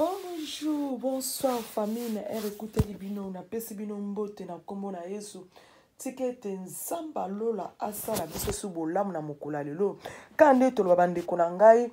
bonjour bonsoir famille na ere ekuteli bino napesi bino mbote na nkombo na yesu tika ete nzambe alola asala biso su bolamu na mokolo ya lelo kaka nde toloba bandeko na ngai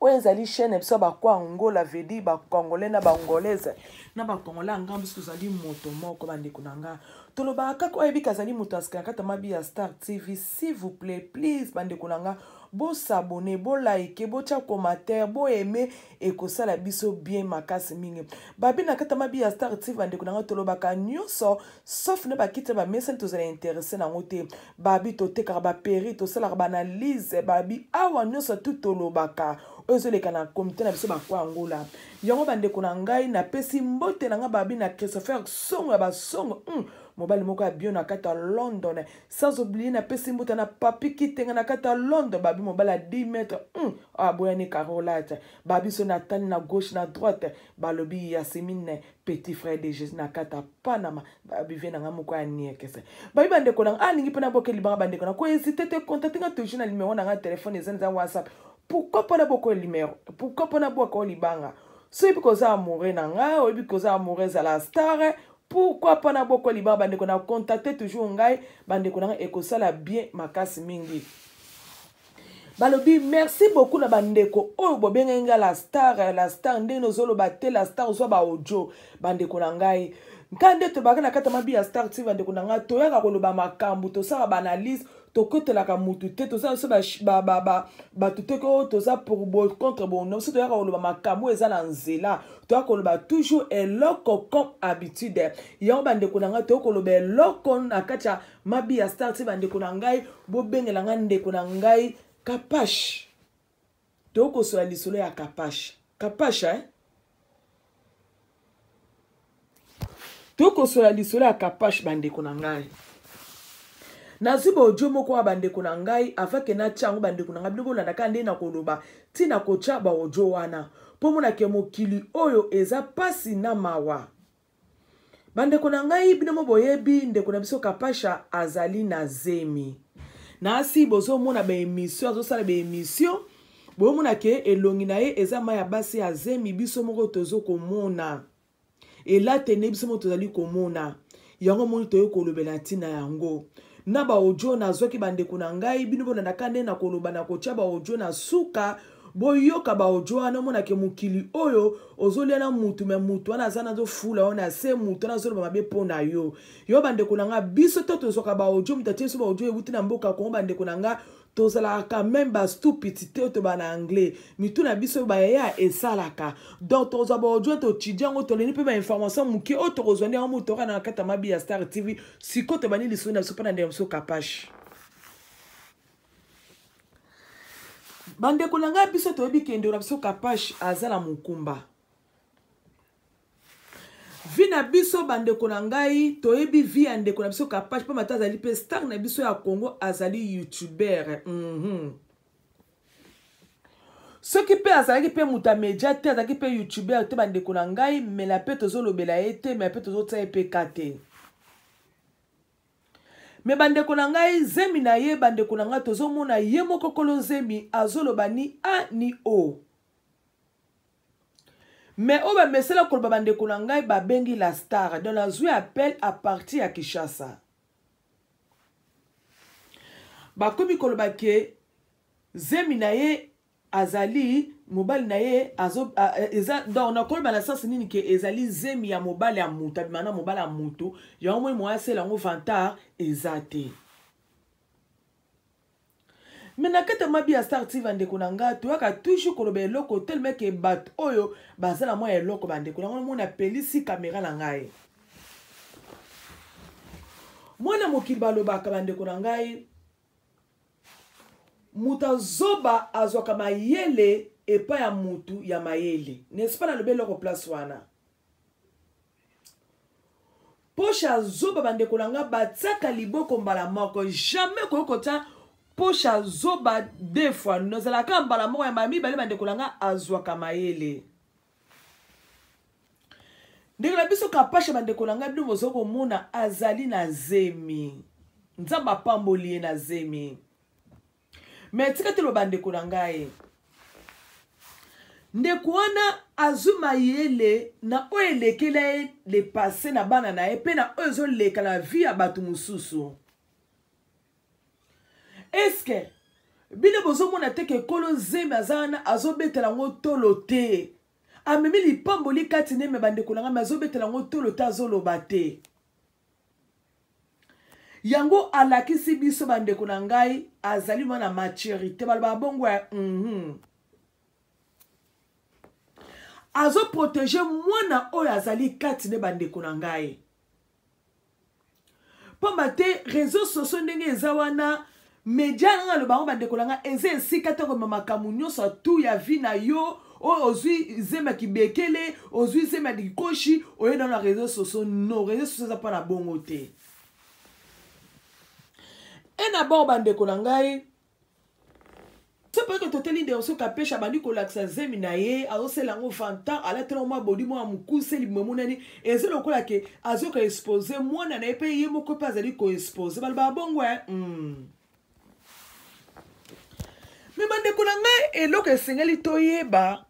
oyo ezali chaîne ya biso ya bako angola vedi bacongolais na bangolaise na bacongolais ya ngambo biso tozali moto moko bandeko na ngai tolobaka kaka oyo ayebika azali moto ya sika na kati ya mabi ya star tv s'il vous plaît please bandeko na nga bosabone bolike botya commentaire boaime ekosala biso bien makasi mingi babi na kata mabi ya star tv bandeko na nga tolobaka nyonso sauf na bakiti ya bamesani tozala interesse na yango te babi totekaka baperi tosalaka baanalyse babi awa nyonso tu tolobaka oyo ezoleka na komite na biso bakwa angola yango bandeko na ngai napesi mbote na ngai babi na christopher songo ya basongo mm. mobali moko ya bio na kati ya london sans oublier na pesi mbuta na papi kitenga na kata londres babi mobali ya 10 mètre hum, aboyani carolate babiso na tani na gauche na droite balobi yasimine petit frère de jésus na kata panama babivie na nga moko ya niekese babi bandeko na nga alingi mpe naboke libanga bandeko na koezite te contacte nga toujours na limero na nga telefone eza nza whatsapp pourquoi mpona bokoyo limero pourquoi mpona bwaka o libanga soyebi koza amoureux na nga oyebi koza amoureux ezala star Pourquoi pas na boko liba bandeko na contacter toujours ngai bandeko na ngai ekosala bien makasi mingi. balobi merci beaucoup na bandeko oyo bobengaki ngai la star la star ndenge ozoloba te la star ozwa baaudio bandeko na ngai nka nde tobaki na kati ya mabi ya star ti bandeko na ngai toyaka koloba makambo tosala baanalyse tokotelaka mutu te toza biso bato te ko toza pour bo contre bono biso toyaka koloba makambo eza na nzela toya koloba toujours eloko comme habitude yango bandeko na ngai toya koloba eloko na kati ya mabi ya star ti bandeko na ngai bobengela ngai ndeko na ngai kapash tokosola lisolo ya kapash kapash eh? tokosola lisolo ya kapash bandeko na ngai nazwi baodio moko ya bandeko na ngai avake natya yango bandeko na ngai bino bolandaka nde na koloba ntina kotya baodio wana mpo monake mokili oyo eza mpasi na mawa bandeko na ngai bino mo boyebi ndeko na biso kapasha azali na zemi nasi bozomona baemission azosala baemission boyomona ke elongi na ye eza mai ya basi ya zemi biso moko tozo komona elatene biso moko tozali komona yango moni toyei kolobela ntina yango na baodio nazwaki bandeko na ngai bino bolandaka nde na koloba na kotya baodio na suka boyoka baodio wana omona ke mokili oyo ozolia na mutu me mutu wana aza nazofula yo na se mutu wana azoloba mabe mpo na yo yo bandeko na nga biso to tozwaka baodio moto atie biso baodio euti na mboka kongo bandeko na nga tozalaka quand même bastupiti te toba na anglais mitu na biso bayaya esalaka donc tokozwa baodio totidi yango toleni mpe bainformation moke oyo tokozwa nde yango moto okana na kati ya mabi ya star tv sikoyo tobandi lisoni na biso mpo na ndeko na biso kapashi bandeko na ngai biso toyebi kendo na biso kapash aza na mokumba vi na biso bandeko na ngai toyebi vi ya ndeko na biso kapash mpo mata azali mpe star na biso ya congo azali youtuber mm -hmm. soki mpe azalaki mpe moto ya media te azalaki mpe youtuber te bandeko na ngai mela mpe tozolobela ye te mela mpe tozotia ye mpe ka te me bandeko na ngai zemi na ye bandeko na ngai tozomona ye moko kolo zemi azoloba ni a ni o me oyo bamesela koloba bandeko na ngai babengi la star don nazwi appel a partir ya kinshasa bakomi koloba ke zemi na ye azali mobali na ye azo a, eza donc nakoloba na sens nini ke ezali zemi ya mobali ya moto abima na mobali ya moto yango moi moya asela yango vantard eza te me na kati ya mabi ya star tv bandeko na ngai toyaka toujours koloba eloko telemeke bato oyo baza na mwa ya eloko bandeko yango mona apelisi kamera na ngai mwana mokili balobaka bandeko na ngai moto ya zoba azwaka mayele epai ya moto ya mayele n'est-ce pas nalobi eloko place wana poshe ya zoba bandeko na ngai batiaka liboko mbala moko jamais koki kotya poshe ya zoba deux fois nazalaka mbala moko ya mbala mibale bandeko na ngai azwaka mayele ndeko na biso kapasha bandeko na ngai bino bozali komona azali na zemi nzambe apamboli ye na zemi me tika toloba ndeko na ngai ndeko wana azwi mayele na oyo elekela ye lepase na bana na ye mpe na oyo ezoleka na vi ya bato mosusu eske bino bozomona te ke kolo zemi aza wana azobetela yango tolo te amemi lipamboli kati neme bandeko na ngai me azobetela yango tolo te azoloba te yango alakisi biso bandeko na ngai azali mwana maturité balobaka bongo ya mm -hmm. azoprotege mwana oyo azali kati nde bandeko na ngai mpamba te réseau sociaux ndenge eza wana media nanga aloba yango bandeko na nga eza esika te komema makambo nyonso ya tu ya vi na yo oyo ozwi zemi ya kibekele ozwi zemi ya likoshi oye nano na réseau sociaux no réseau sociaux eza mpo na bongo te e na bao bandeko na ngai sepeke toteli nderso kapesha abandi kolakisa zemi na ye azosela yango fanta alatela yango mwa bodi mwa mokuse libumu emonani eza lokola ke azoka expose mwana na ye mpe ye moko mpe azali koexpose balobaka bongo e mm. me bandeko na ngai eloko esengeli toyeba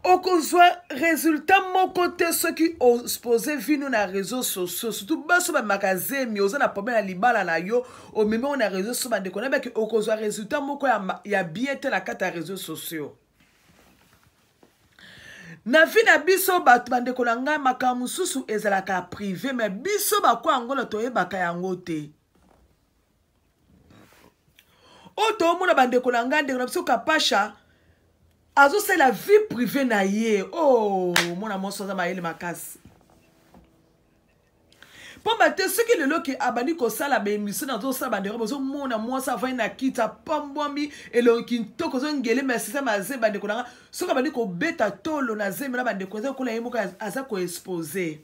okozwa resultat moko te soki ospose vino na réseau sociaux surtout baso bamaka zemi oza na problème ya libala na yo omemi yango na réseau sociaux bandeko na baki okozwa resultat moko ya, ya bien te na kati ya réseau sociaux na vi na biso bato bandeko na ngai makambo mosusu ezalaka prive me biso bakwa yango na toyebaka yango te oyo toomona bandeko na ngai ndeko na biso kapasha azosala vie privé na ye o oh, mwana mwasi aza mayele makasi mpamba te soki lelo ke abandi kosala baemission nazosala bandeko bozomona mwasi avandi na kiti apambwami elongi kintoko ozongelema asisa maze bandeko na nga soki abandi kobeta tolo na zemi na bandeko eza kola ye moko aza koexpose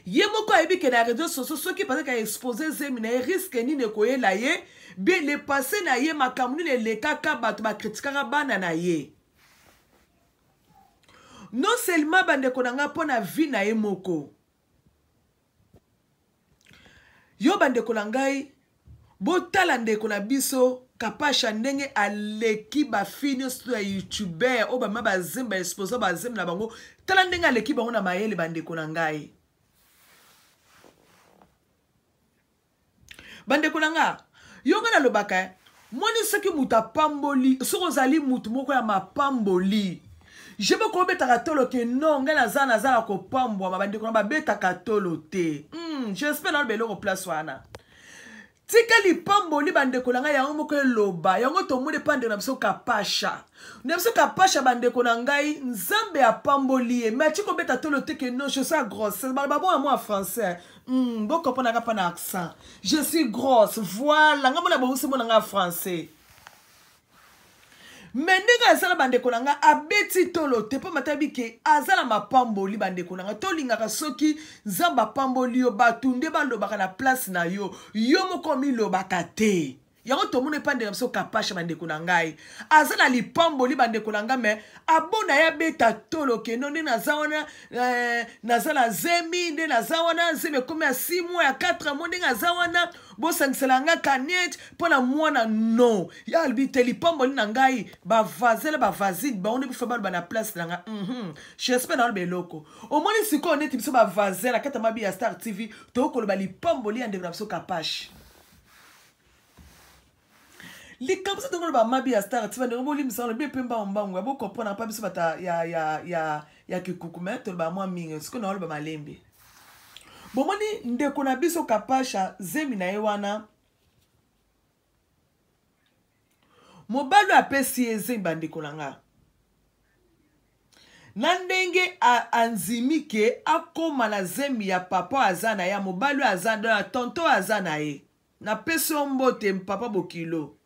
ye moko ayebi ke na réseau sociaux soki bazalaka expose zemi na ye riske nini ekoyela ye be le passé na ye makambo nini elekaka bato bakritikaka bana na ye non seulement bandeko na ngai mpo na vie na ye moko yo bandeko na ngai botala ndeko na biso kapasha ndenge aleki bafi nyonso ya youtuber oyo bama bazemi baexposa bazemi na bango tala ndenge aleki bango na mayele bandeko na ngai bandeko na nga yo nga nalobaka eh, moni soki moto apamboli soki ozali moto moko ya mapamboli je moko obetaka tolo ke no ngai naza naza na kopambwama bandeko na babetaka tolo te mm, jespere naloba eloko place wana tika lipamboli bandeko na ngai yango moko eloba yango tomoni epa ndeko na biso kapasha na biso kapasha bandeko na ngai nzambe apamboli ye me ati kobeta tolo te ke no je sa grosse baloba bongo yango ya français mm, bokoponaka mpa na accent je suis grosse voilà nga mona bowusi mona nga français me ndenge aza na bandeko na ngai abeti tolo te mpo matayebi ke aza na mapamboli bandeko na ngai tolingaka soki nzambe apamboli yo bato nde balobaka na place na yo yo moko omilobaka te yango tomoni epai ndeko na biso kapasha bandeko na ngai aza na lipamboli bandeko na ngai me abona ye abeta tolo kendo nde naza wana eh, naza na zemi nde naza wana zemi ekomi ya 6 mois ya 4 mois ndenge aza wana bosangisela ngai kanete mpo na mwana no ya alobi te lipamboli na ngai bavazele bavazine bango nde bifa baloba na place na ngai mm -hmm. jespe naoloba eloko omoni sikoyo neti biso bavazele na kati ya mabi ya star tv tokoki koloba lipamboli ya ndeko na biso kapashe likambo so tongo loba mabi ya star tiva ndenge bolimbisaka lobi mpe mbango mbango ya bokomprendre mpa biso bata ya, ya, ya, ya kikuku me tolobaka mwa mingi sikoyo naoloba malembe bomoni ndeko na biso kapasha zemi na ye wana mobali oyo apesi ye zemi bandeko na nga na ndenge andimi ke akóma na zemi ya papa oyo aza na ye ya mobali oyo aza na tonto oyo aza na ye napesi yo mbote papa bokilo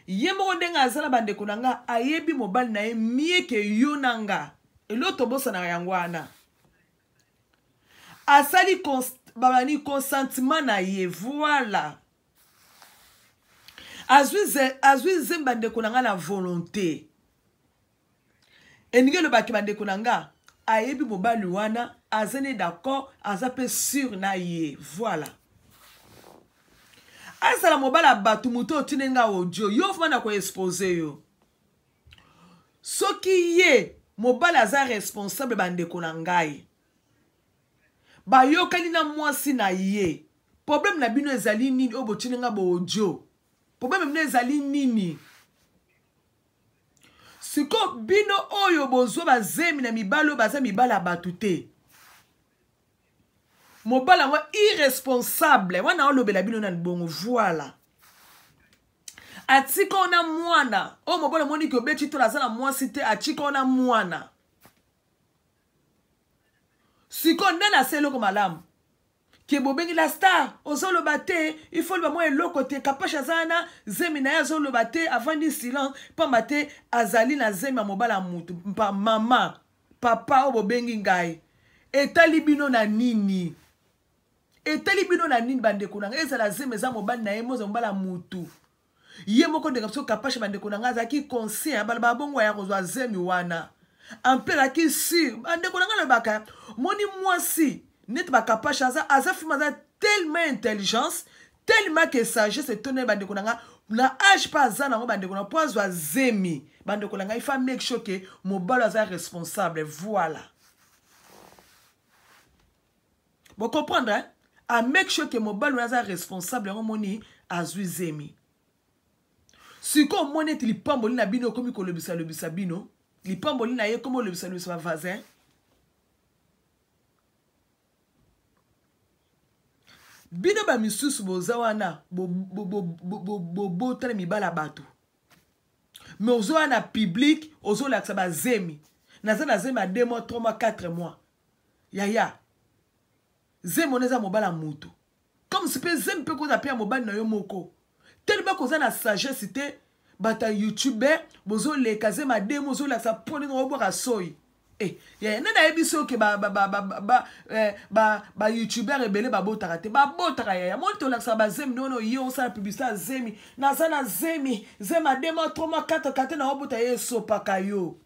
ye moko ndenge aza na bandeko na nga ayebi mobali na ye mie ke yo na nga eloko tobosanaka yango wana asali babani consentiment na ye voila azwi nzembe bandeko na ngai na volonté elingi elobaki bandeko na ngai ayebi mobali wana aza ne d'accord aza mpe sur na ye voilà azala mobali ya bato moto otindi nga audio yo vrma na koexpose yo soki ye mobali aza responsable bandeko na ngai bayokani na mwasi na ye problème na bino ezali nini oyo botini nga baaudio problème na bino ezali nini sikoyo bino oyo bozwa bazemi na mibali oyo baza mibali ya bato te mobali yango irresponsable wana olobela bino na libongo voila atika ona mwana oyo mobali omoni ke obeti tola aza na mwasi te atika ona mwana sikoyo nde na se eloko malamu ke bobengi la star ozoloba te ifo loba mwa eloko te kapasha aza wana zemi na ye azoloba te avandi silence mpamba te azali na zemi ya mobala ya motu mpa mama papa oyo bobengi ngai etali bino na nini etali bino na nini bandeko na ngai ezala zemi eza mobali na ye moza mobala ya motu ye moko ndenge biso kapashe bandeko na ngai azalaki conscient abalobaka bongo ya kozwa zemi wana ampe azalaki sur bandeko na ngai alobaka moni mwasi neti bakapashe aza aza filme aza tellement intelligence tellement que sagesse etonda ye bandeko na ngai na age mpe aza nango bandeko na mpo azwa zemi bandeko na ngai fa make sure ke mobali aza responsable voilà Bo comprendre hein? A make sure que mobali oyo aza responsable yango moni azwi zemi. Sikoyo omoni ete lipamboli na bino ekomi kolobisa lobisa bino lipamboli na ye ekomi kolobisa lobisa bavasin bino bamisusu boza wana bobotana mibala bato me ozoya na publike ozolakisa bazemi naza na zemi ya 2 mois 3 mois 4 mois yaya zemi wana eza mobala moto comme si mpe zemi mpe koza mpe ya mobali na yo moko telema koza na sagesse te bato ya youtubeur bozoleka zemi ademi ozolakisa mpo ndenge obwaka soi eh, yaya nani ayebi so ke bayoutubeur eh, ebele babotaka te babotaka yaya moni tolakisaka bazemi nde wana oye osala publicité ya zemi naza na zemi zemi adema troma kata kate na obota ye esopaka yo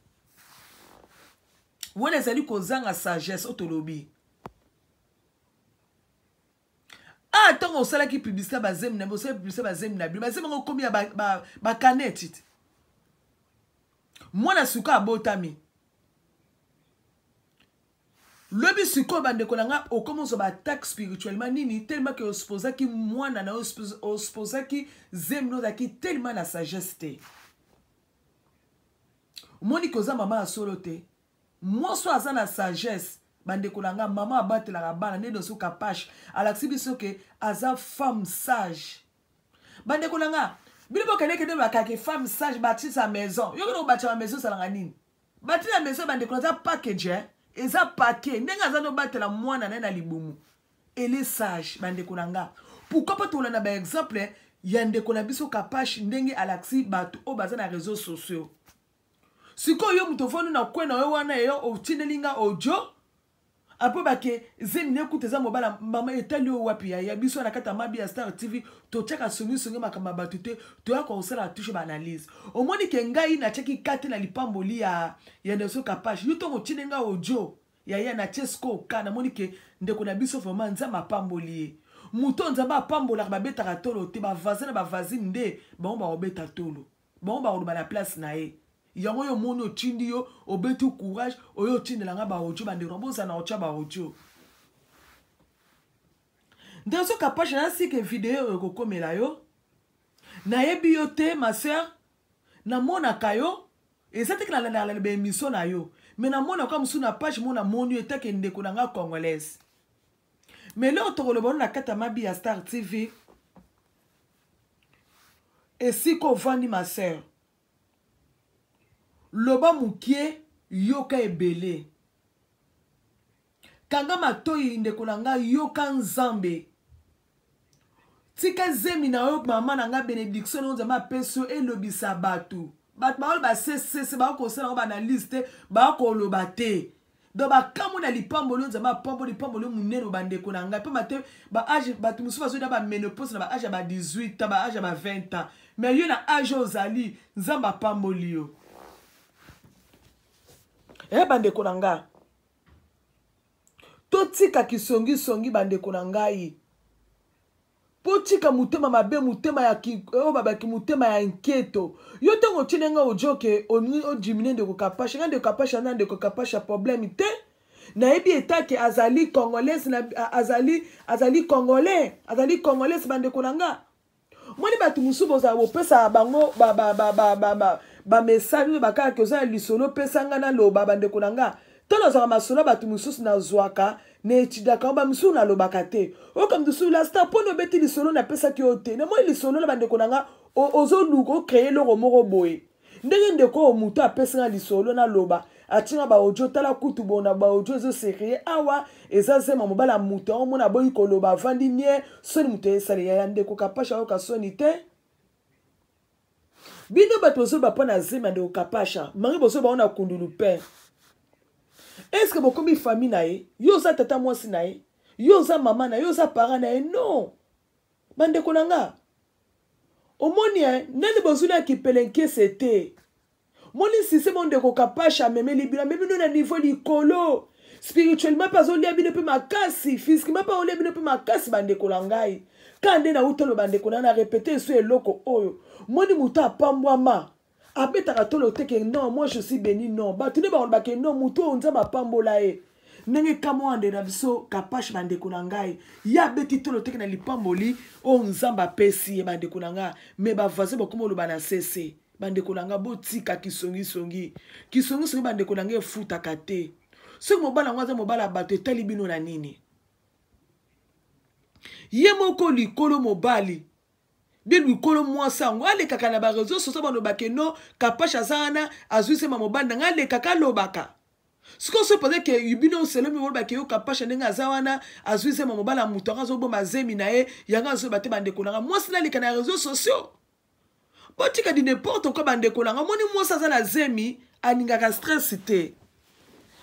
wana ezali kozanga sagesse oyo tolobi a ah, ntango osalaki publicité bazemi na bino osalaki publicité bazemi na bino bazemi yango okomi ya bakane tite mwana suka abotami lobi sikoyo bandeko na ngai okomi ozwa baattaque spirituellement nini telema ke osposaki mwana na yo osposaki zemi na ozalaki telema na sagesse te omoni ke oza mama ya solo te mwasi oyo aza na sagesse bandeko na nga mama abatelaka bana nde noso kapashe alakisi biso ke aza femme sage bandeko na nga bino bokendekende bakake femme sage batise ya maison yo kende kobatisa ya maison ezalaka nini batise ya maison bandeko aza package eh? eza pake ndenge aza nobatela mwana na ye na libumu elle est sage bandeko na nga pourquoi pas tolanda ba exemple ya ndeko na biso kapash ndenge alakisi bato oyo baza na réseau sociaux sikoyo yo moto ofandi na kwe na yo wana eyo otindeli nga audio apo bake zemi ne kuta eza mobala mama etali oyo wapi ya biso na kati ya mabi ya star tv totyaka songisongi makambo ya bato te toya kosala touche baanalyse omoni ke ngai natyaki kate na lipamboli ya ya nelson kapage yo ntongo otindi ngai audio yaya na tie sikoyo ka namoni ke ndeko na biso vraiment nzambe apamboli ye moto oyo nzambe apambolaka babetaka tolo te bavaze na bavazine nde bango bakobeta tolo bango bakoloba na place na ye yango yo omoni otindi yo obeti courage oyo otindela ngai baodio bandeko na bozala na otya baodio nde soki apasha nasike video oyo ekokomela yo nayebi yo te ma sœur namonaka yo eza teke nalandaka na baemission na yo me namona kwa mosusu na page mo namoni yo etake ndeko na nga congolaise me leo tokoloba ono na kati ya mabi ya star tv esika ovandi ma sœur loba mokie yoka ebele kanga matoyi ndeko na nga yoka nzambe tika zemi na yo mama na nga benediction oyo nzambe apesi yo elobisa bato bato baoyo basesese bakosala yango baanalyse te bakoloba te donc bakamwe na lipamboli oyo nzambe apambo lipamboli monene bandeko na ngai mpamba te baage bato mosusu bazoyina bamenopose na baage ya ba 18 ans baage ya ba 20 ans mais yo na age oyo ozali nzambe apamboli yo e bandeko na ngai totika kisongisongi bandeko na ngai botika motema mabe motema ya oyo babaki motema ya nketo yo ntango otyeli ngai ojoke odimine ndeko kapasha ngai ndeko kapasha na ndeko kapasha problème te nayebi etake azali congolaise na, azali azali congolais azali congolaise bandeko na nga omoni bato mosusu bozala bopesaka bango bamesage oyo bakaka ke oza na lisolo opesa ngai naloba bandeko na ngai to nazwaka masolo ya bato mosusu nazwaka na etidaka yango bamosusu nalobaka te oyoka moto mosusu lasta mpo na obeti lisolo napesaki yo te namoni lisolo na bandeko na ngai ozoluka okreye eloko moko boye ndenge ndeko oyo moto apesi nga lisolo naloba atinga baaudio tala kutu bona baaudio ezo serie awa eza zema mobali ya moto yango mona aboyi koloba avandi nie soni moto esali yaya ndeko kapashi ayoka soni te bino bato bozoloba mpo na zema ndeko kapasha mange bozoloba ona kundulu pere eske bokomi fami na ye yo oza tata mwasi na ye yo oza mama na ye yo oza para na ye non bandeko na nga omoni eh, nani bozwi na kipelenkese te moni nsise mondeko kapasha amemeli bino amemi bino na niveau likolo spirituellement mpe azolia bino mpe makasi physiquement mpe aolia bino mpe makasi bandeko na ngai ka nde nauta loba ndeko na na repete esu eloko oyo moni moto apambwama abetaka tolo te ke non moi je suis beni non bato nde bakoloba ke non motu oyo nzambe apambola ye ndenge kamwande na biso kapashe bandeko na ngai ye abeti tolo teke na lipamboli oyo nzambe apesi ye bandeko na ngai me bavoisin bakoma oloba na sese bandeko na ngai botika kisongisongi kisongisongi bandeko na ngai efutaka te soki mobali yango aza mobali ya bato etali bino na nini ye moko likolo mobali de likolo mwasi yango alekaka na bareseau soso balobaka no kapash aza wana azwi sema mobali na ngai alekaka alobaka sikoyo soki mpenza ke bino oselomi olobaka yo kapasha ndenge aza wana azwi zema mobala moto yango azoboma zemi na ye yango azoyeba te bandeko na ngai mwasi naleka na réseau sociaux botika di n'importe quoi bandeko na ngai omoni mwasi aza na zemi alingaka stress te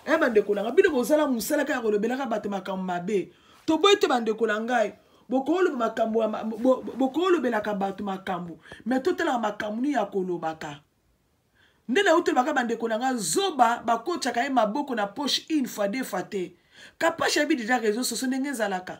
eh bandeko na ngai bino bozala mosalaka ya kolobelaka bato makambo mabe toboyi te bandeko na ngai bokolobelaka bato makambo me totalaka makambo nini ya kolobaka nde nautolobaka bandeko na ngai zoba bakotaka ye maboko na poche une fois deux fois te kapasha yebi deja réseau soso ndenge ezalaka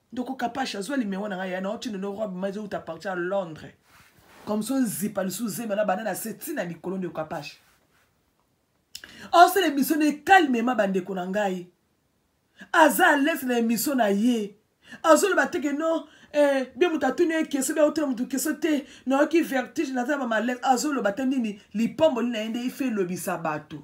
ndoko kapash azwa limero na ngai ya na otino no robe mazo uta parti ya londres comme so nzipa lisusu zema na banda na se ti na likolo ndeko kapash osala emission na ekalmema bandeko na ngai aza alese na emission na ye azoloba teke no eh, bie moto atuni ye keso bia otuna moto keso te nayoki vertige naza na bamalaise azoloba te nini lipomboli na ye nde ife elobisa bato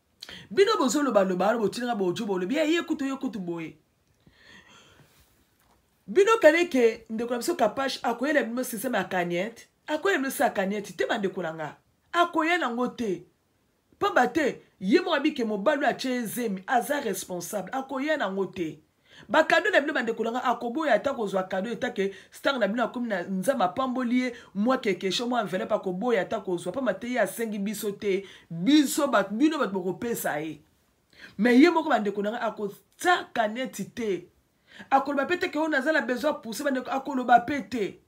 bino bozoloba loba wana botinaka bojo bolobi ye ye kutu ye kutu boye bino kani ke ndeko na biso kapash akoyela bino systeme ya kaniete akoyela bino se ya kaniete te bandeko na nga akoya nango te pamba te ye moko abike mobali oyo atye ye zemi aza responsable akoya nango te bakado na bino bandeko na ngai akoboya ata kozwa kado etake star na bino akomi na nzambe apamboli ye mwa kekesho mwa envelope akoboya ata kozwa mpamba te ye asengi biso te biso bato bino bato bokopesa ye me ye moko bandeko na ngai akotiaka neti te akoloba mpe te ke oyo naza na besoin pousse bandeko akoloba mpe te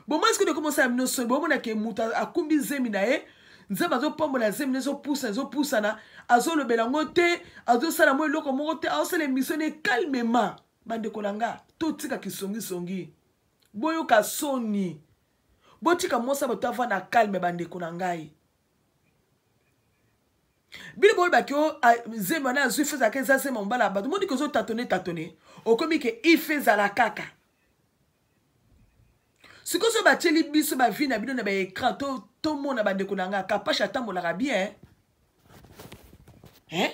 bomoi sikoyo ekoma osala bino soni bomona ke moto akumbi zemi na ye nzambe azopambola zemi ezopusa ezopusana azolobela yango te azosala mwa eloko moko te azosala emisio ne calmement bandeko na nga totika kisongisongi boyoka soni botika mwasi ya bato avanda calme bandeko na ngai bino bolobaki o ah, zemi wana azwi feza ake eza zemi ya mobala ya bato moniki ozotatone tatone okomi ke ife ezala kaka sikoyo so batyeli biso bavi na bino na baécran tomona bandeko na ngai kapasha atambolaka bien eh?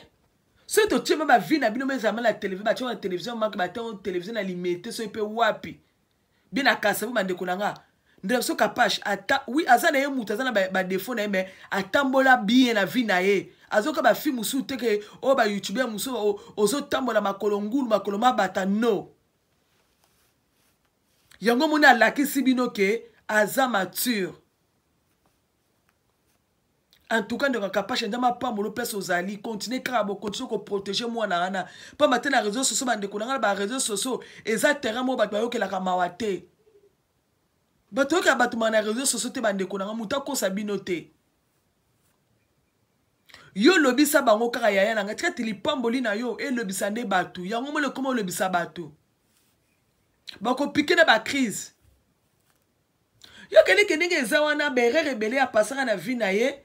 soki totyema bavi na bino mezalama na televizio batyema na televizio make batango televizio na limete soki mpe wapi bie na kasabu bandeko na ngai ndela biso kapashe ata wi aza na ye moto aza na badefo na ye mai atambola bien na vi na ye azoka bafilme mosusu teke oyo oh, bayoutubeur mosusu ozotambola makolo ngulu makolo mabata no yango moni alakisi bino ke aza mature en tout cas ndeko kapasha nzambe apambola mpesa ozali continue kaka bokontinue koprotege mwana wana mpamba te na réseau socio bandeko na ngai na baréseau socio eza terrain moko bato bayokelaka mawa te bato oyokela bato maa na réseau socio te bandeko na ngai moto akosa bino te yo lobisa bango kaka yaya na ngai tikati lipamboli na yo elobisa nde bato yango mole ekoma olobisa bato bakopike na bacrise yo kendeke ndenge eza wana berere ebele apasaka na vie na ye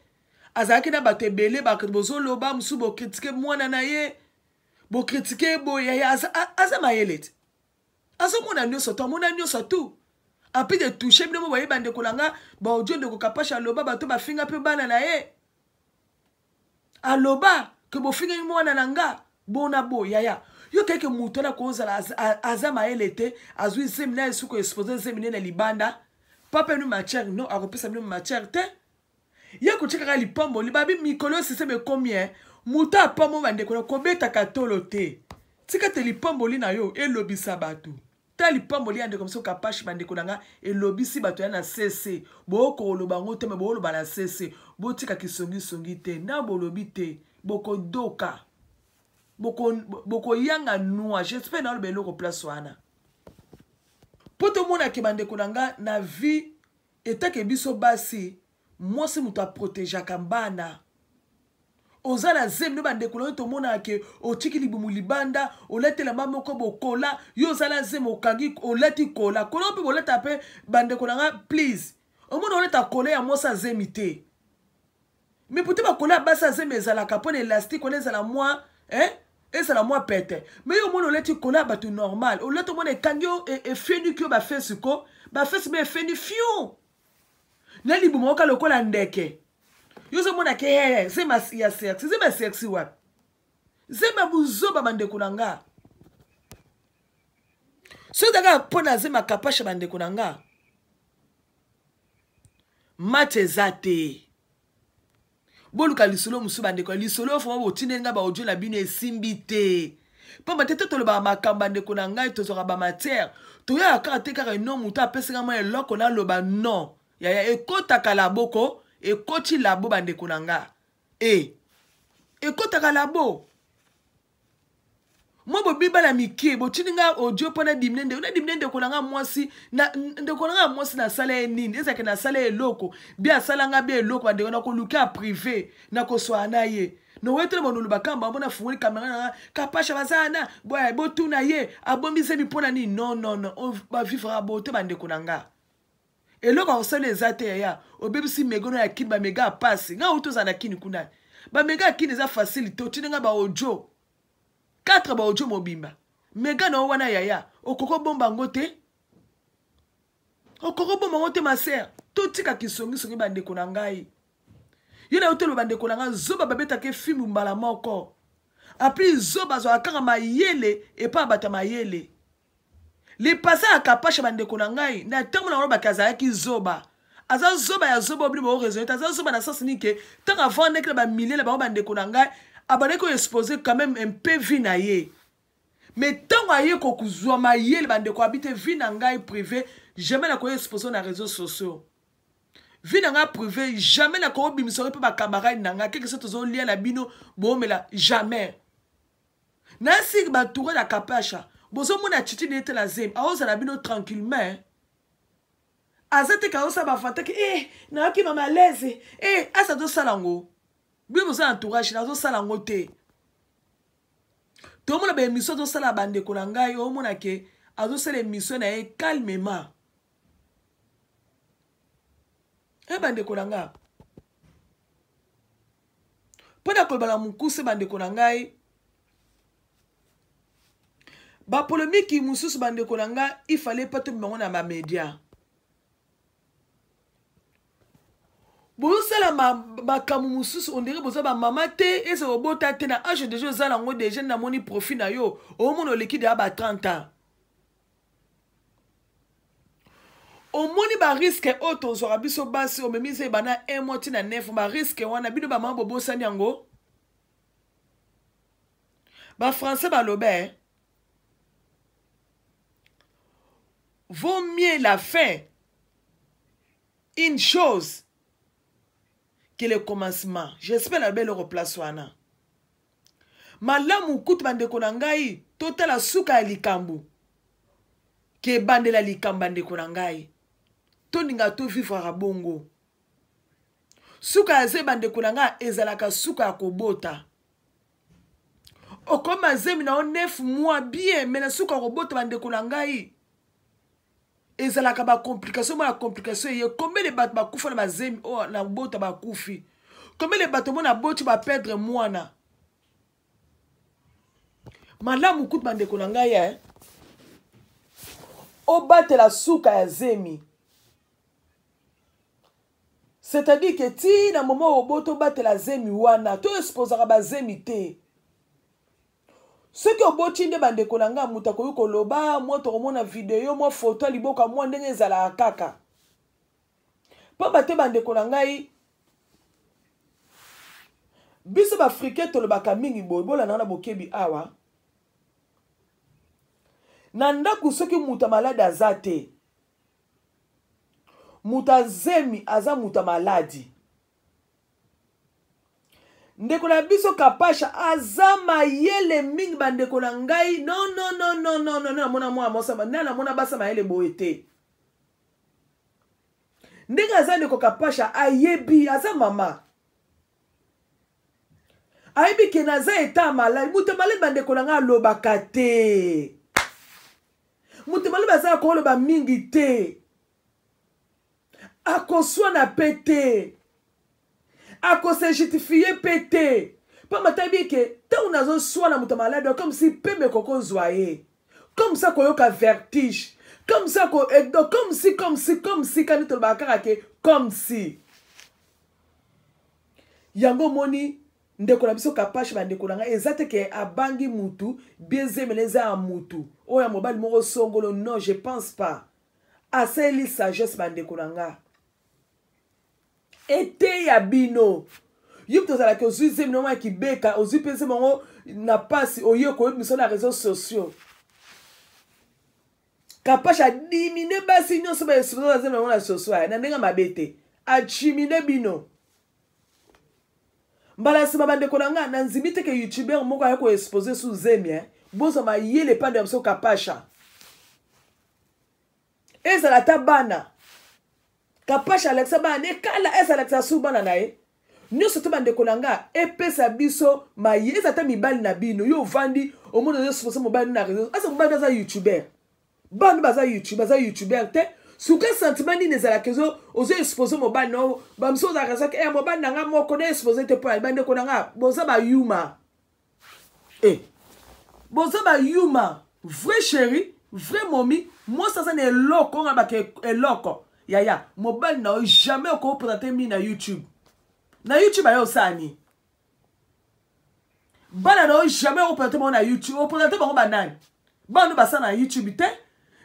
azalaki na bato ebele bato bozoloba mosusu bokritike mwana na ye bokritike boye aza mayele te azomona nyonso to amona nyonso tout api de touche bino mo bayeba ndeko na nga baodio ndeko kapasha aloba bato bafinga mpe bana na ye aloba ke bofingaki mwana na nga bona bo yaya yo keke moto na kozala aza mayele te azwi zemi na ye suku expose zemi ne na libanda papenu matière no akopesa bino matière te ye kotika kaka lipamboli babi mikolo oyo siseme ekomi e moto apambo bandeko na kobetaka tolo te tika te lipamboli na yo elobisa bato ta lipamboli ya ndeko mosusu kapashi bandeko na nga elobisi bato ya na sese bookoloba yango te me booloba na sese botika kisongisongi te na bolobi te bokodoka bokoyanga boko nua jespere naoloba eloko place wana mpo tomonake bandeko na nga na vie etake biso basi mwasi moto aprotegeaka bana oza na zemi no bandeko na yo tomonaka ke otiki libumu libanda olati elamba moko bokola yo oza na zemi okangi olati kola kola mpe bolata mpe bandeko na nga please omona olata kola ya mwasi azemi te mais pourtant bakola ya basi ya zemi ezalaka mpo na elastique wana ezala mwa eh? ezala mwa pete mais yo omona olati kola ya bato normal olati omona ekangi yo e, efeniki yo bafesi ko bafesi me efeni fiu na libumu oka lokola ndeke yo ozomona ke hee zemi ya sexi zemi ya sexi wapi zemi ya buzoba bandeko na nga soki ozalaka mpo na zemi ya kapasha bandeko na nga match eza te boluka lisolo mosusu bandeko ya lisolo foma botindeli ngai baaudio na bino esimbi te mpamba te to tolobaka makambo bandeko na ngai tozwaka bamatière toyaka kaka te kaka eno moto apesi ngai mwa eloko naloba non yaya ekotaka laboko ekoti labo bandeko na ngai e ekotaka labo mwa bobibala mike botindi nga audio mpo nadimi ne ndeko nadimi ne ndeko na nga mwasi ndeko na nga mwasi nasala ye nini ezalaki nasala ye eloko bi asala nga bi eloko bandeko nakoluka ya prive nakoswaa na ye nowetela monulu bakamba yango nafungoli kamera na nga kapasha baza na boye botuna ye abomisemi mpo na nini non non non bavivra bote bandeko na nga eloko akosala eza te yaya obebisi mega na ya kini bamega ya pasi ngai auti ozala na kini kuna bamega ya kini eza facile te otindi ngai baodio 4 baodio mobimba mega na yo wana yaya okoki obomba yango te okoki obomba yango te masere totika kisongisongi bandeko na ngai yo na yo toloba bandeko na ngai zoba babetaka fimu mbala moko apres zoba azwaka kaka mayele epai ya bato ya mayele lipasa ya kapasha bandeko na ngai na ntango na olobaki azalaki zoba aza zoba ya zoba obili bao raisonne aza zoba na sens nini ke ntango avandaki na bamilie na bango bandeko na ngai abandaki koexpose quand même un peu vie na ye mais ntango aye kokozwa mayele bandeko abi te vie na ngai privé jamais nakoya expose na réseaux sociaux vie na ngai privé jamais nakoobimisa yo mpe bacamarade na ngai keke so tozolia na bino boomela jamais na siki batoure na kapasha bozomona chichi na ye te na zemi aozala bino tranquillement aza te kaosa bafantaki e eh, nayoki mama alaise e eh, asi azosala yango bino boza na entourage nazosala yango te tomona baemission azosala ya bandeko na ngai omona ke azosala emission na ye calmement e bandeko na ngai mpo na koloba na mokuse bandeko na ngai bapolemiki mosusu bandeko na ngai ifale mpe tomi bango na bamedia bozosala makambo mosusu ondenge boza bamama te eza kobota te na age deja oza nango deja namoni profit na yo omona oleki deya ba 30 ans omoni bariske oyo tozwaka biso basi omemisi ebanda 1 mois ntina 9 bariske wana bino bamama bobosani yango bafrançais baloba eh? vaut mieux la fin une chose que le commencement j'espère naloba eloko place wana malamu kutu bandeko na ngai totala suka ya likambo ke ebandela likambo bandeko na ngai tolinga tovivraka bongo suka ya zemi bandeko na ngai ezalaka suka ya kobota okoma zemi na yo nef mwa bien me na suka ya kobota bandeko na ngai ezalaka ba complication mona complication eye combien de bato bakufa na bazemi oyo oh, na bota bakufi combien de bato mona boti baperdre mwana malamu kutu bandeko na ngai eh? obatela suka ya zemi c'est-à-dire ke ti na moma oboto obatela zemi wana to esposaka bazemi te soki oboti nde bandeko na ngai moto akoki koloba mwa tokomona video mwa foto ya liboka mwa ndenge ezalaka kaka mpamba te bandeko na ngai biso baafricain tolobaka mingi boye bolandaka na bokebi awa na ndako soki moto ya maladi aza te moto azemi aza moto ya maladi ndeko na biso kapasha aza mayele mingi bandeko na ngai nonnnnnnn namona mwana mwasi nde namona basa mayele boye te ndenge aza ndeko kapasha ayebi aza mama ayebi ke naza eta malai moto ya malai bandeko na ngai alobaka te moto ya malai bazalaka koloba mingi te akoswana mpe te akose justifiye mpe te mpo matayebi eke ntango nazoswana moto ya maladi comme si mpembe kokozwa ye comme ça koyoka vertige comme ça ko eh, donc comme si comme si comme si kani tolobaka kaka ke comme si yango omoni ndeko na biso kapashi bandeko na ngai eza te ke abangi mutu biezemela eza ya mutu oyo ya mobali moko songolo non je pense pas asaleli sagesse bandeko na nga eteya bino yo mpe tozalaki ozwi zemi na yango ya kibeka ozwi mpe zemi yango na mpasi oye koyebi misala ya réseau sociaux kapash adimine basi nyonso baesulo na zemi na yango na soso aya na ndenge mabe te achimine bino mbala nsima bandeko na ngai nanzimi te ke youtuber moko aya koexpose su zemi eh? bozwa mayele epande ya biso kapasha ezala ata bana kapash alakisa bana ne kala ese alakisa su bana na ye nyonso te bandeko na nga epesa biso maye eza ata mibali na bino yo ovandi omoni ozosukosa mobali na reseau asa mobali aza youtuber bana baza youtube baza youtuber te suka sentiment nini ezalaka ezo ozo expose mobali na bamisusu ozalaka ezaki e eh, mobali na nga moko na expose te mpo ya bandeko na nga boza bayuma e boza bayuma vrai chéri vrai momi mwasi aza na eloko nga baka eloko yaya mobali na yo jamais okopona te mi na youtube na youtube ayo osala nini bana na yo jamais opona te bango na youtube opona te bango banani bana no basala na youtube te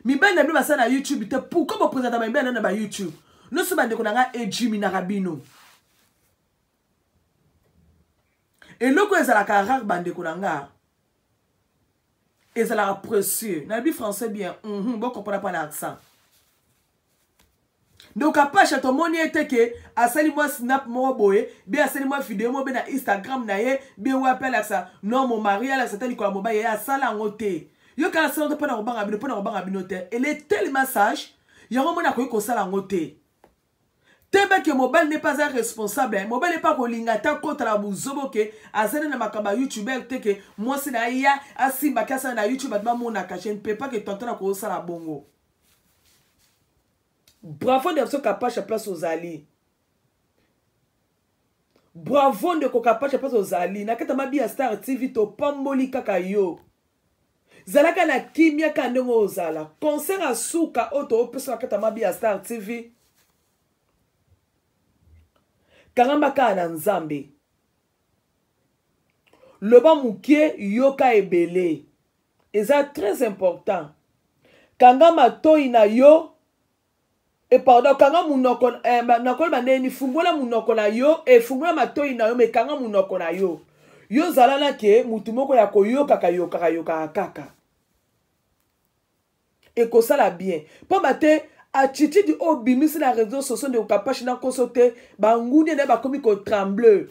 mibali na bino basala na youtube te pourkoi bopresentama mibali na na bayoutube nyonso bandeko na ngai ejiminaka bino eloko ezalaka rare bandeko na nga ezalaka précieux nayebi français bien mm -hmm, bokompona mpa na accent donc apasha tomoni ye te ke asali mwa snap moko boye be asali mwa video moko be na instagram na ye be wapi alakisa non mo mari alakisa ta likolo ya mobali ye asala yango te yo kala sala te mpo na kobanga bino mpo na kobanga bino te ele telema sage yango mona akoki kosala yango te tebe ke mobali ne pas un responsable eh. mobali epa kolinga ata kota na buzobo ke azali na makambo ya youtubeur te ke mwasi na ye ya asimba ke asala na youtube bato bamonaka je ne peux pas ke tonton akosala bongo bravo de biso kapasha place ozali bravo ndeko kapacha mpasi ozali na kati ya mabi ya star tv topamboli kaka yo zalaka na kimia kaka ndenge ozala concert ya suka oyo toopesa na kati ya mabi ya star tv kangamba kaka na nzambe loba moke yoka ebele eza très important kanga matoi na yo e pardon kanga munoko eh, nakoli bande ni fungola munoko na yo e fungola matoyi na yo me kanga munoko na yo yo zala na ke mutu moko ya koyokaka yokaka yokaka kaka ekosala bien mpamba te attitude oyo obimisi na réseau sociaux ndeko kapashi na nkoso te bangundia na ye bakomi kotremble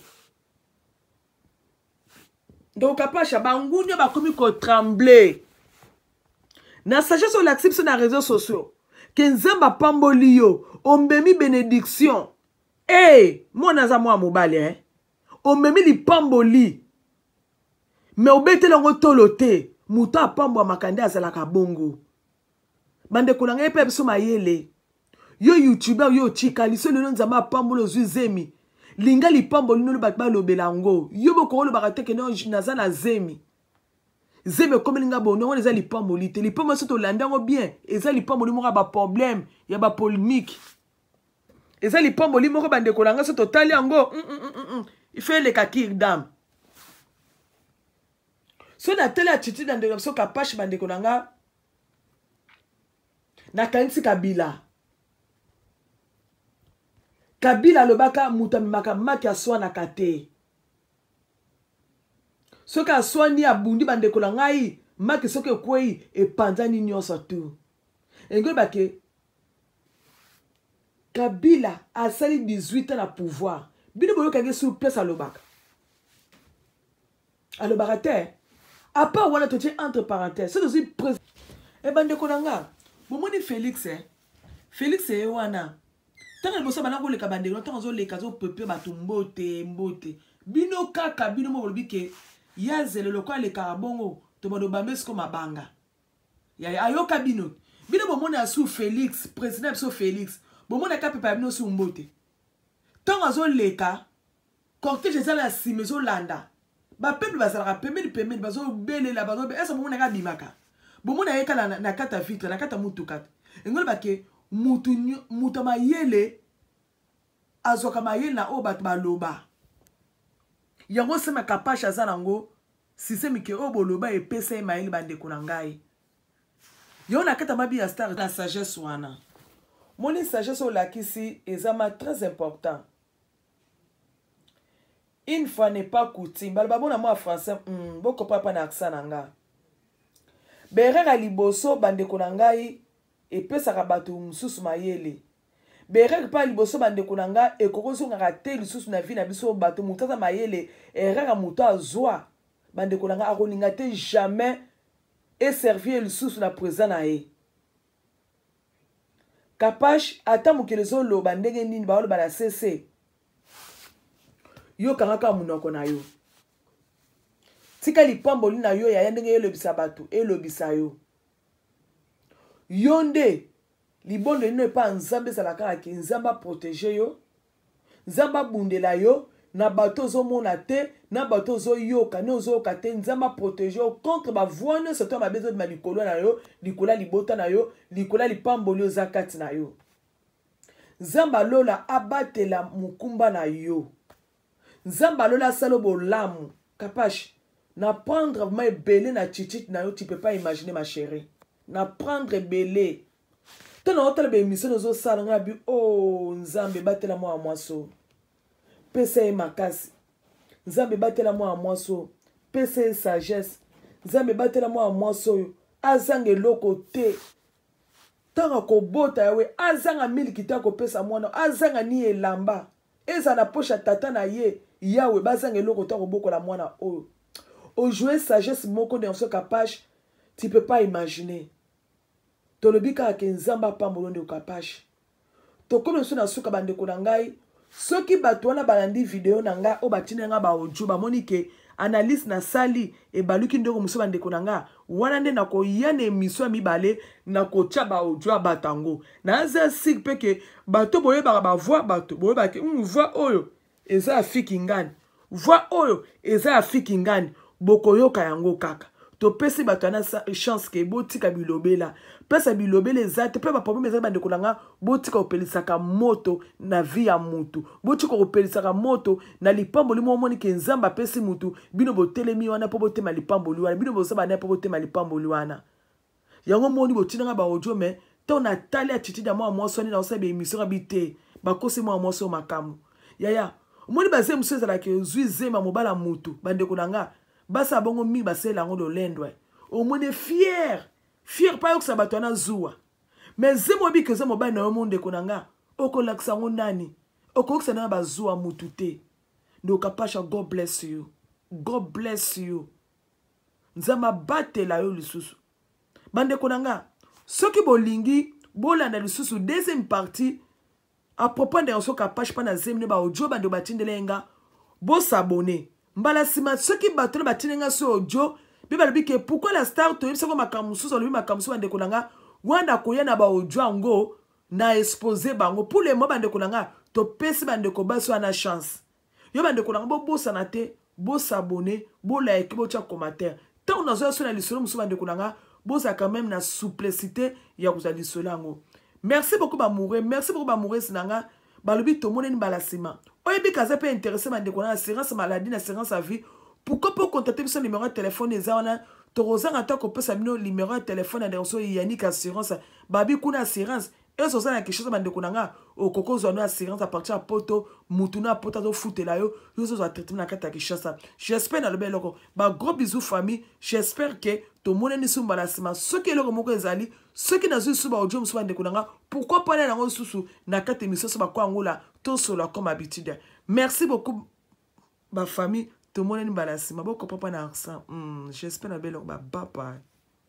ndeko kapasha bangunio bakomi kotremble na sagesse olakisi biso na réseau sociaux ke nzambe apamboli yo omemi benediction e hey, eh, mwana aza mwana mobali eh? omemi lipamboli me obeteli yango tolo te moto apambwamaka nde azalaka bongo bandeko na ngai epai biso mayele yo youtuber yo otikali so lelo nzambe apambola ozwi zemi linga lipambo lino bato balobela yango yo bokoki olobaka te ke naza na zemi zemi ekomeli nga bono yango eza lipamboli te lipamboli so tolanda yango bien eza lipamboli moko ya baproblème ya bapolémique eza lipamboli moko bandeko na ngai so totali yango mm, mm, mm, mm. ife eleka kirdame so natali attitude ya ndeko na biso kapashe bandeko na ngai nakanisi kabila kabila alobaka moto amemaka maki aswanaka te soki aswani abundi bandeko na ngai maki soki ekwei epanzani nyonso tu engoyebake kabila asali 18 ans na pouvoir bino boyokaki sur place alobaka alobaka te apart wana totie entre parenthèse soki tozwi preuve e eh, bandeko na nga bomoni félix eh? félix ye wana ntango liboso bana koleka bandeko ntango azoleka azopepe bato mbote mbote bino kaka bino moko bolobi ke ya zelo lokola alekaka bongo tobando bambe siko mabanga yaya ayoka bino bino bomoni asu félix président ya biso félix bomoni aka pepe ya bino su mbote ntango azoleka cortège eza na nsima ezolanda bapeuple bazalaka pembeni pembeni bazobelela bazo ese bomona ka abimaka bomona ye kala na, na kata vitre na kata motuka te engoloba ke mutu mutu mayele azwaka mayele na oyo bato baloba yango sema kapashe aza nango sisemi ke oyo boloba epesa ye mayele bandeko na ngai yo na kata mabi ya star na sagesse wana moni sagesse olakisi eza ma très important une fois n'est pas coutume baloba bona mwa français mm, bokopa mpa na accent na nga berera liboso bandeko na ngai epesaka bato mosusu mayele berere mpa liboso bandeko na ngai ekoki ozongaka te lisusu na vi na biso bato moto aza mayele erreur moto azwa bandeko na ngai akolinga te jamais eservir lisusu na présent na ye kapash ata mokili ezoloba ndenge nini baoloba na sese yo kanga kaka monoko na yo tika lipamboli na yo yaya ndenge elobisa bato elobisa yo yo nde libondo lino epai nzambe ezala kaka ke nzambe aprotege yo Nzambe abundela yo na bato ozomona te na bato ozoyoka ne ozoyoka te nzambe aprotege yo contre bavoi nyonso to mabe ezobima likolo na yo likolo ya libota na yo likolo ya lipamboli oza kati na yo nzambe alola abatela mokumba na yo nzambe alola asala bolamu kapash na prendre ma ebele na chichit na yo tu peux pas imaginer ma chérie na prendre ebele to na otala baemission ozosala ngai abi o oh, nzambe ebatela mwana mwasi oyo pesa ye makasi nzambe ebatela mwana mwasi oyo pesa ye sagesse nzambe ebatela mwana mwasi oyo azanga eloko te ntango akobota yawe azanga miliki te akopesa mwana azanga ni elamba ezala na poshe ya tata na ye yawe bazanga eloko te akobokola mwana oyo ojoue sagesse moko de yanso kapashe tu peux pas imaginer tolobi kaka ke nzambe apambolo ndeko kapash tokomi biso na suka bandeko na ngai soki bato wana balandi video na ngai oyo batindeli ngai baaudio bamoni ke analyse nasali ebaluki ndenge mosusu bandeko na ngai wana nde nakoya na emisio ya mibale nakotya baaudio ya bato yango naza sire mpe ke bato boyebaka bavoi bato boyebaka ke hmm, voi oyo eza ya fiki ngani voi oyo eza ya fiki ngani bokoyoka yango kaka topesi bato ana chance ke botika bilobela pesa bilobela eza te mpe baproblème ezali bandeko na nga botika kopelisaka moto na vi ya motu botika kopelisaka moto na lipamboli moko omoni ke nzambe apesi motu bino botelemi wana mpo botema lipamboli wana bino boza banaye mpo botema lipamboli wana yango moni botinanga ba audio mais to na tali attitude ya mwa mwasi wana naosala ba émission abi te bakosi mwa mwasi oyo makambo yaya omoni baze mosusu ezalaka ozwi zema mobala motu bandeko na nga basala bongo mingi basalela yango lolendwa omoni fiere fiere mpo ayokisa bato wana zuwa me zema obiki oza mobali na yo mondeko na nga okolakisa yango nani okoyokisa nanga bazuwa motu te ndokapasha god bless you god bless you nzambe abatela yo lisusu bandeko na nga soki bolingi bolanda lisusu deuxième partie à propos ndeko soki apache mpa na zemi ne baodio bandeko batindela ye nga bosabone mbala nsima soki bato na batindeli nga so odio mpe balobi ke pourkui la star toyebisako makambo mosusu alobi makambo mosusu bandeko na nga wana akoya na baodio yango na expose bango pour le mo bandeko na nga topesi bandeko basi wana chance yo bandeko na nga bobosana te bosabone bolaiki botya commentaire ntango nazoya so na lisolo mosusu bandeko na nga bozalaka meme na souplicité ya kozwa lisolo yango merci beaucoup bamoure merci beaucoup bamourese na nga balobi tomoneni mbala nsima oyebi kaza mpe interesse bandeko na assurance maladie na assurance ya vie pourkoi mpo kontakte biso numero ya telefone eza wana tokozanga ata kopesa bino numero ya telefone ya ndeko so yanik assurance babi kuna assurance ese oza na kinshasa bandeko na nga okoki ozwa no assurance apartir ya poto mutu na poto azofutela yo yo ozozwa traitement na kati ya kinshasa j'espère nalobi eloko bagros bisou famille j'espère ke tomonani su mbala nsima soki eloko moko ezali soki nazwi lisusu baaudio mosusu bandeko na nga pourkui pana yango lisusu na kati emission so bako yangola tosola comme habitude merci beaucoup bafamille tomonani mbala nsima bokopa mpa na arsa hmm, j'espère nalobi eloko babapa